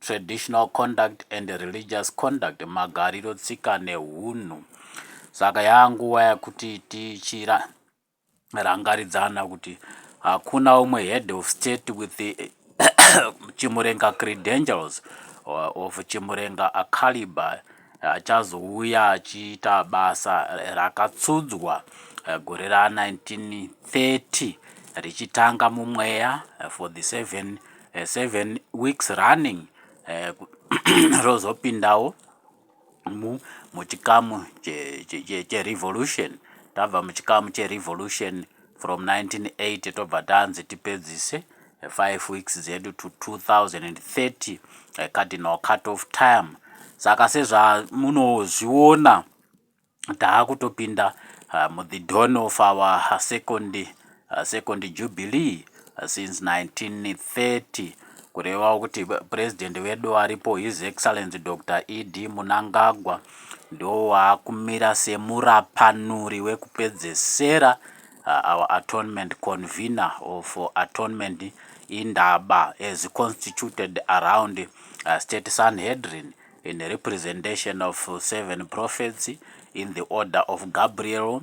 traditional conduct and religious conduct magariro tsika nehunhu saka yanguva yakuti tichira rangaridzana kuti hakuna umwe head of state with the chimurenga credentials of chimurenga acaliber achazouya achiita basa rakatsudzwa eh, gore ra 1930 richitanga mumweya eh, for the seven, eh, seven weeks running rozopindawo mu muchikamu cherevolution tabva muchikamu cherevolution che from 1980 tobva tanzi tipedzise 5 weeks dzedu to 2030 eh, cardinal cut of time saka sezvamunozviona taakutopinda uh, eh, muthe dawn of our second, uh, second jubilee since 1930 kurevawo kuti president vedu varipo his excellence dr ed munangagwa ndowaakumira semurapanuri wekupedzesera uh, our atonement convener or for atonement indaba as constituted around uh, state sanhedrin in representation of seven prophets in the order of gabriel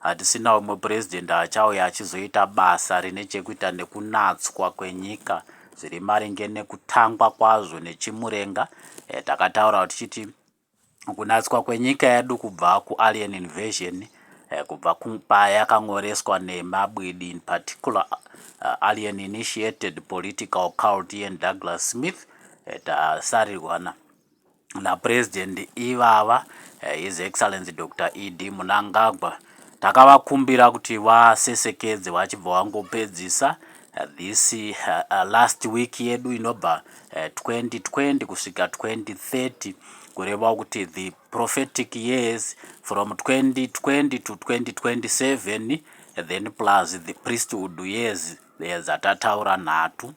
Hatisina umwe President achauya achizoita basa rine chekuita nekunatswa kwenyika zviri maringe nekutangwa kwazvo neChimurenga. Eh, takataura tichiti kunatswa kwenyika yedu kubva kualien invasion eh, kubva payakan'oreswa nemabwidi in particular uh, alien initiated political cult ian douglas smith eh, tasarirwana naPresident ivava, His Excellency Doctor ED Munangagwa, takavakumbira kuti vasesekedze vachibva vangopedzisa this last week yedu inobva 2020 kusvika 2030 kureva kuti the prophetic years from 2020 to 2027 then plus the priesthood years dzatataura nhatu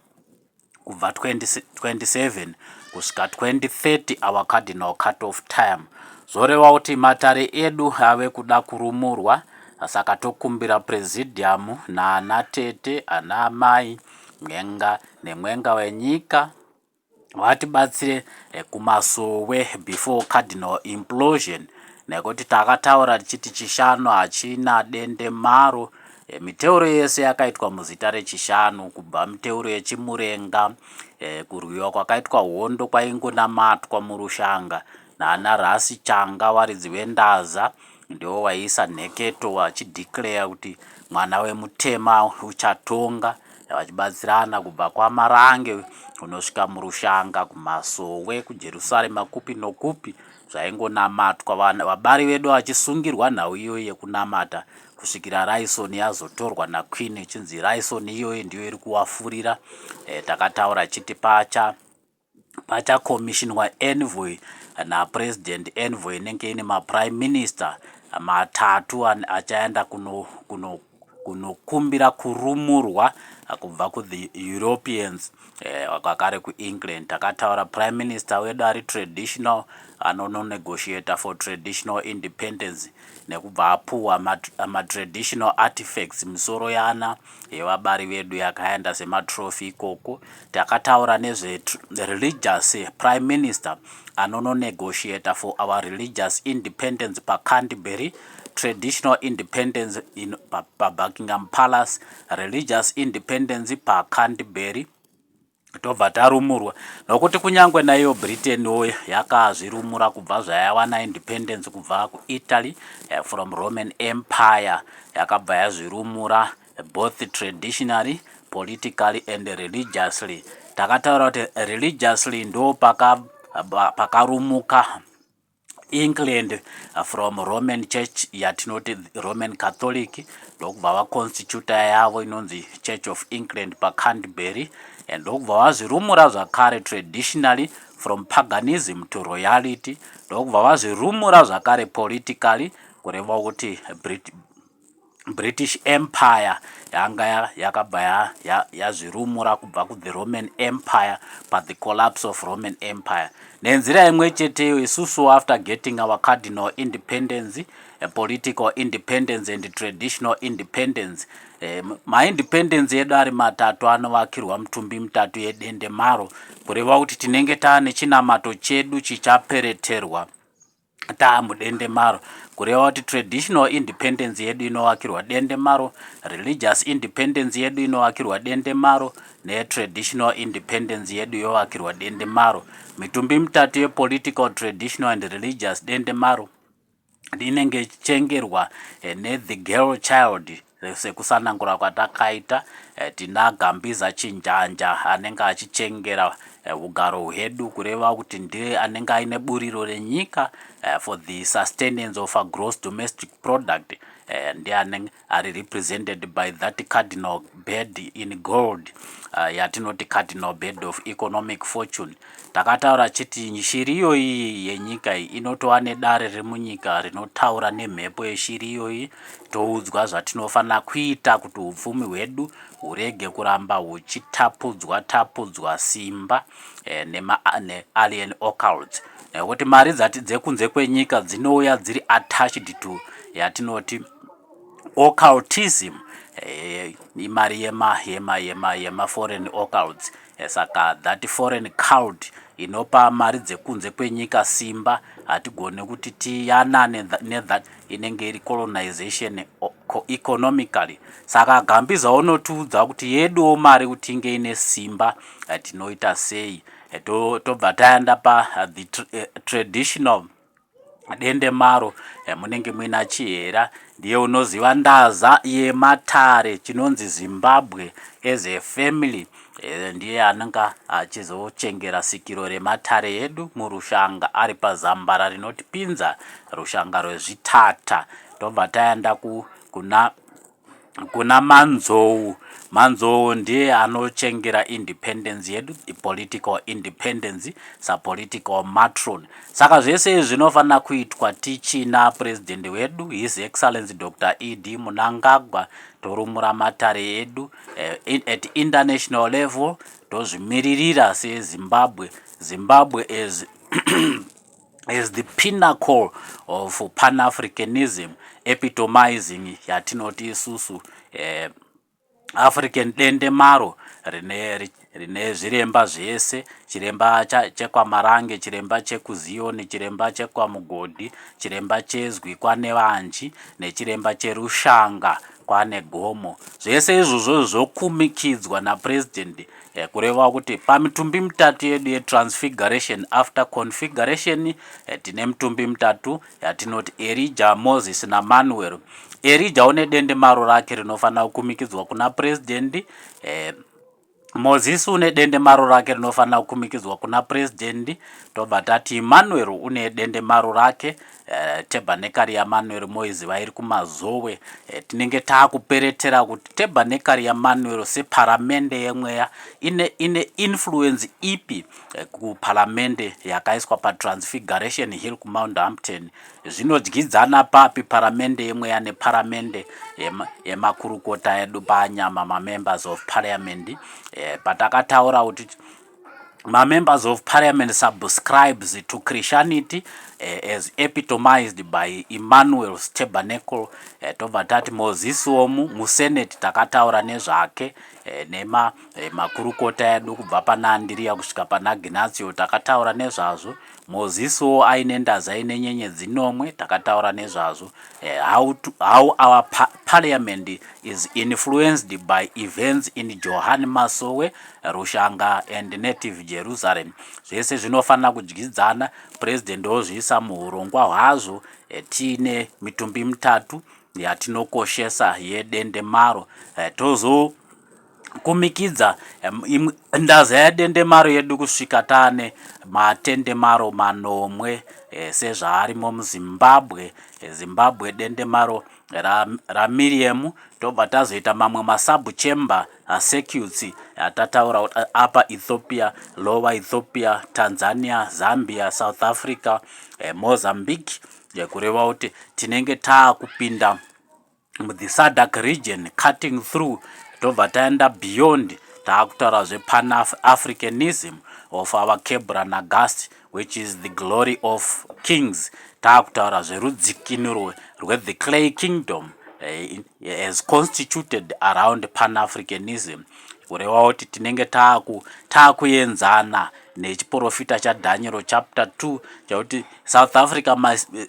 kubva 2027 kusvika 2030 our cardinal cut off time zvoreva kuti matare edu ave kuda kurumurwa saka tokumbira presidium naana tete ana amai mwenga nemwenga wenyika vatibatsire eh, kumasowe before cardinal implosion nekuti takataura tichiti chishanu hachina dende maro E, miteuro yese yakaitwa muzita rechishanu kubva miteuro yechimurenga e, kurwiwa kwakaitwa hondo kwaingonamatwa murushanga naana rasi changa varidzi vendaza ndiwo waiisa nheketo vachideclare kuti mwana wemutema uchatonga vachibatsirana kubva kwamarange kunosvika murushanga kumasowe kujerusarema kupi nokupi zvaingonamatwa vabari vedu vachisungirwa nhau iyoyi yekunamata kusvikira raison yazotorwa naqueen ichinzi raison iyoyo ndiyo iri kuwafurira e, takataura chiti pacha pachakomishinwa envoy napresident envoy inenge ine maprime minister matatu achaenda kuno, kuno kunokumbira kurumurwa kubva kuthe europeans Eh, wakagare kuEngland takataura prime minister wedu ari traditional anononegotiator for traditional independence nekubva apuwa matraditional artifacts misoro yana yevabari vedu yakaenda sematrophy ikoko takataura nezvereligious prime minister anononegotiator for our religious independence pacanterbury traditional independence in pabuckingham palace religious independence pacanterbury tobva tarumurwa nokuti kunyange naiyo britain wo yakazvirumura kubva zvayawana independence kubva kuitaly eh, from roman empire yakabva yazvirumura both traditionally politically and religiously takataura kuti religiously ndo pakarumuka paka England from Roman Church yatinoti Roman Catholic ndokubva vaconstituta yavo inonzi Church of England paCanterbury and ndokubva vazvirumura zvakare traditionally from paganism to royality ndokubva vazvirumura zvakare politically kureva kuti British Empire yanga yakabva yazvirumura kubva kuThe Roman Empire paThe Collapse of Roman Empire. Nenzira imwe cheteyo, isusu after getting our cardinal independence, a political independence and traditional independence, eh, maindependence edu ari matatu anovakirwa mutumbi mitatu yedendemaro, kureva kuti tinenge taane chinamato chedu chichapereterwa Taa mudendemaro, kureva kuti traditional independence yedu inovakirwa dendemaro, religious independence yedu inovakirwa dendemaro, netraditional independence yedu yovakirwa dendemaro. Mitumbi mitatu yepolitical, traditional and religious dendemaro inenge ichengerwa eh, neThe Girl Child Sekusanangura kwatakaita, eh, tina Gambiza Chinjanja anenge achichengera eh, ugaro hwedu kureva kuti ndiye anenge aine buriro renyika eh, for the sustenance of a gross domestic product ndiye anenge ari represented by that cardinal bed in gold yatinoti cardinal bed of economic fortune Takataura chiti shiri iyoyi yenyika iyi inotova nedare remunyika rinotaura nemhepo yeshiri iyoyi toudzwa zvatinofanira kuita kuti upfumi hwedu hurege kuramba huchitapudzwa tapudzwa simba eh, nealien occults nekuti eh, mari dzati dzekunze kwenyika dzinouya dziri attached to yatinoti occultism eh, imari yema yema yema yema foreign occults Eh, saka that foreign cult inopa mari dzekunze kwenyika simba hatigone kuti tiyanane nethat inenge iri colonization economically saka gambiza unotiudza kuti yeduwo mari kuti inge ine simba eh, tinoita sei eh, tobva tayanda pa the traditional Dendemaro munenge muina Chihera ndiye unoziva ndaza yematare chinonzi Zimbabwe as a family eh, ndiye ananga achizochengera sikiro rematare edu murushanga ari pazambara rinotipinza rushanga rwezvitata tobva taenda kuna Kuna Manzou. Manzou ndiye anochengera independence yedu, political independence, sapolitical matron. Saka zvese izvi zvinofanira kuitwa tichina president wedu, His Excellency Doctor ED Munangagwa, torumura matare edu eh, at international level tozvimiririra seZimbabwe. Zimbabwe as as the pinnacle of pan-africanism epitomizing yatinoti isusu eh, african dende maro rine rine zviremba zvese chiremba chekwamarange chiremba chekuziyoni chiremba chekwamugodhi chiremba chezwi kwanevanji nechiremba cherushanga kwane gomo zvese izvozvo zvokumikidzwa napurezidendi eh, kureva kuti pamitumbi mitatu yedu yetransfiguration after configuration eh, tine mitumbi mitatu yatinoti eh, erija moses namanuel erija une dende maro rake rinofanira kukumikidzwa kuna purezidendi eh, mozisi une dende maro rake rinofanira kukumikidzwa kuna purezidendi tobva tati emmanueri une dende maro rake Eh, tebhanekari yamanueri moiziva iri kumazowe eh, tinenge taakuperetera kuti tebhanekari yamanueri separamende yemweya ine, ine influence ipi eh, kuparamende yakaiswa patransfiguration hill kumount hampton zvinodyidzana papi paramende yemweya neparamende yemakurukota edu panyama mamembers of parliament patakataura kuti mamembers of parliament subscribes to christianity uh, as epitomized by emmanuel stabernacle uh, tobva tati moses omu musenate takataura nezvake uh, nema uh, makurukota edu kubva pana andiriya kusvika pana gnatio takataura nezvazvo Moziso aine ndaza ine nyenye dzinomwe takataura nezvazvo eh, how, to, how our pa parliament is influenced by events in Johan Masowe, Rushanga and Native Jerusalem. Zvese zvinofanira kudyidzana, president ozviisa muhurongwa hwazvo eh, tiine mitumbi mitatu yatinokoshesa yedende maro eh, tozo kumikidza ndaza yadendemaro yedu kusvika tane matendemaro manomwe eh, sezvaarimo muzimbabwe eh, zimbabwe dendemaro ramiriam ra tobva tazoita mamwe masub chamber ah, circuits atataura ah, apa ethiopia lower ethiopia tanzania zambia south africa eh, mozambique eh, kureva kuti tinenge taakupinda muthe sadak region cutting through tobva taenda beyond taakutaura zvepan africanism of our kebra nagast which is the glory of kings taakutaura zverudzikinuro rwethe clay kingdom eh, as constituted around pan africanism kureva kuti tinenge taakuenzana nechiprofita chadhanyero chapter 2 chakuti south africa must,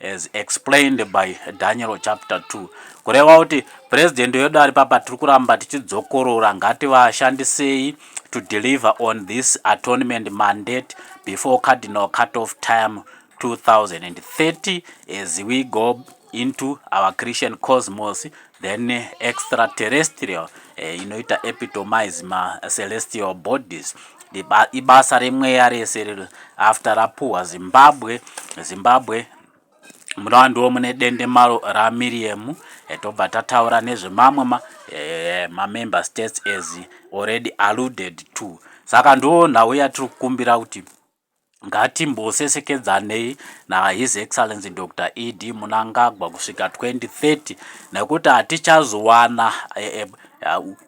as explained by Daniel chapter 2 kureva kuti president wedu ari papa tiri kuramba tichidzokorora ngativashandisei to deliver on this atonement mandate before cardinal cut off time 2030 as we go into our christian cosmos then eh, extraterrestrial eh, inoita epitomize macelestial bodies ibasa remweya rese riri after rapuhwa zimbabwe zimbabwe munova ndiwo mune dende maro ramiriemu eh, tobva tataura nezvemamwe mamember ma states as already alluded to saka ndo nhau yatiri kukumbira kuti Ngatimbosesekedzanei naHis Excellency Doctor ED Munangagwa kusvika 2030 nekuti hatichazowana eh, eh,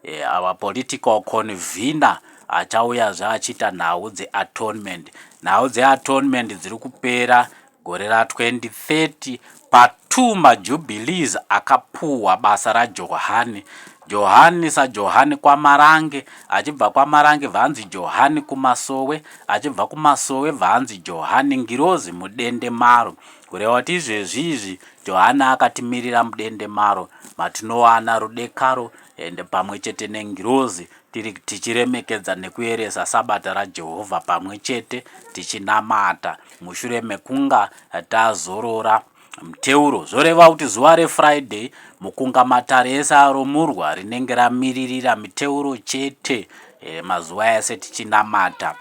eh, our political convener achauyazve achiita nhau dzeatonement. Nhau dzeatonement dziri kupera Gore ra 2030 pa two ma jubilees akapuhwa basa ra Johani. Johani sa Johani kwa Marange, achibva kwa Marange bvanzi Johani ku Masowe, achibva ku Masowe bvanzi Johani ngirozi mu dende maro. Kureva kuti izvezvi izvi Johani akatimirira mudende maro matinowana rudekaro and pamwe chete ne ngirozi Tiri tichiremekedza nekuyeresa Sabata raJehovha pamwe chete tichinamata mushure mekunga tazorora muteuro zvoreva kuti zuva reFriday mukunga matare ese aromurwa rinenge ramiririra miteuro chete eh, mazuva ese tichinamata.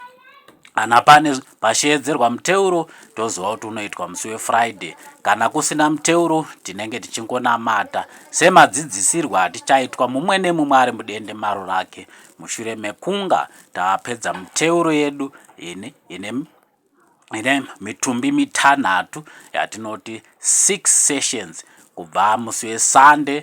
Kana pane pasheedzerwa muteuro toziva kuti unoitwa musi weFriday. Kana kusina muteuro tinenge tichingonamata. Semadzidzisirwo atichaitwa mumwe nemumwe ari mudende maro rake mushure mekunga tapedza muteuro yedu ine, ine, ine mitumbi mitanhatu yatinoti six sessions kubva musi weSunday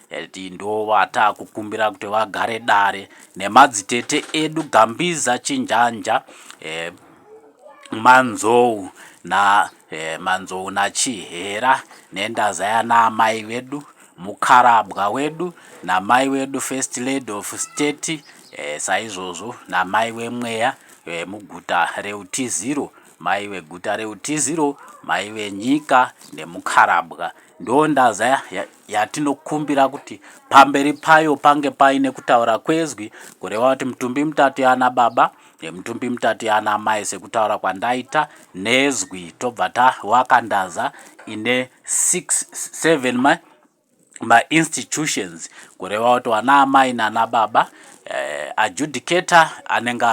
Healthy ndovatakukumbira kuti vagare dare nemadzitete edu Gambiza Chinjanja eh, Manzou na eh, Manzou na Chihera nendazaya naamai vedu mukarabwa wedu namai wedu first lady of state eh, saizvozvo namai wemweya eh, muguta reutiziro mai veguta reutiziro mai venyika nemukarabwa Ndondaza yatinokumbira kuti pamberi payo pange paine kutaura kwezwi kureva kuti mitumbi mitatu yana baba nemitumbi mitatu yana mai sekutaura kwandaita nezwi tobva tawaka ndaza ine 67 ma mainstitutions kureva kuti wana amai nana baba eh, adjudicator anenge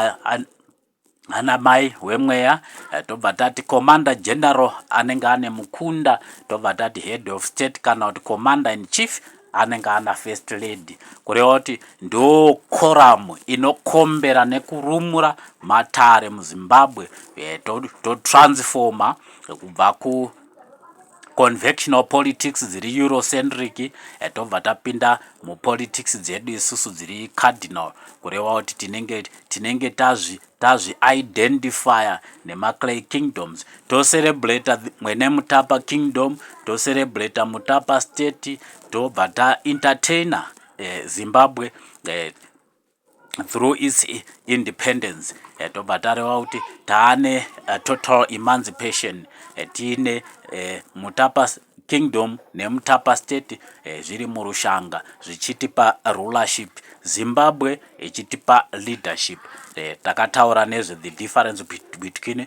anamai wemweya eh, tobva tati commander general anenge ane mukunda tobva tati head of state kana kuti commander in chief anenge ana first lady kureva kuti ndo koramu inokombera nekurumura matare muzimbabwe eh, totransforma kubva ku convectional politics dziri eurocentric eh, tobva tapinda mupolitics dzedu isusu dziri cardinal kureva kuti tinenge tinenge tazvi tazvi identifier nemaclay kingdoms tocelebrata mwene mutapa kingdom tocelebrata mutapa state tobva taentertainer eh, zimbabwe eh, through its independence eh, tobva tareva kuti taane eh, total emancipation eh, tiine mutapa kingdom nemutapa state zviri murushanga zvichitipa rulership zimbabwe ichitipa leadership takataura nezve the difference between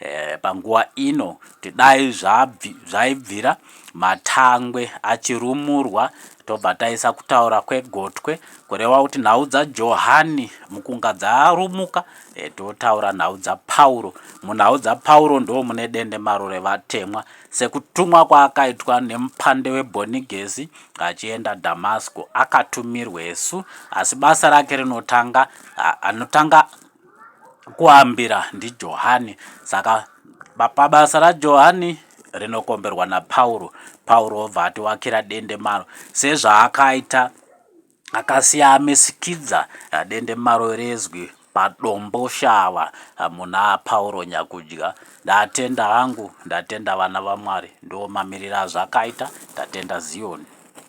Eh, panguva ino tidai zvaibvira matangwe achirumurwa tobva taisa kutaura kwegotwe kureva kuti nhau dzajohani mukunga dzarumuka eh, totaura nhau dzapauro munhau dzapauro ndo mune dende maro revatemwa sekutumwa kwaakaitwa nemupande webhonigesi achienda damasco akatumirwesu asi basa rake rinotanga anotanga Kuambira ndiJohani. Saka pabasa raJohani rinokomberwa naPauro, Pauro obva atiwakira dendemaro sezvaakaita akasiamisikidza eh, dendemaro rezwi padombo shava eh, muna Pauro Nyakudya. Ndatenda hangu, ndatenda vana vaMwari, ndiwo mamiriro azvakaita, ndatenda Zioni.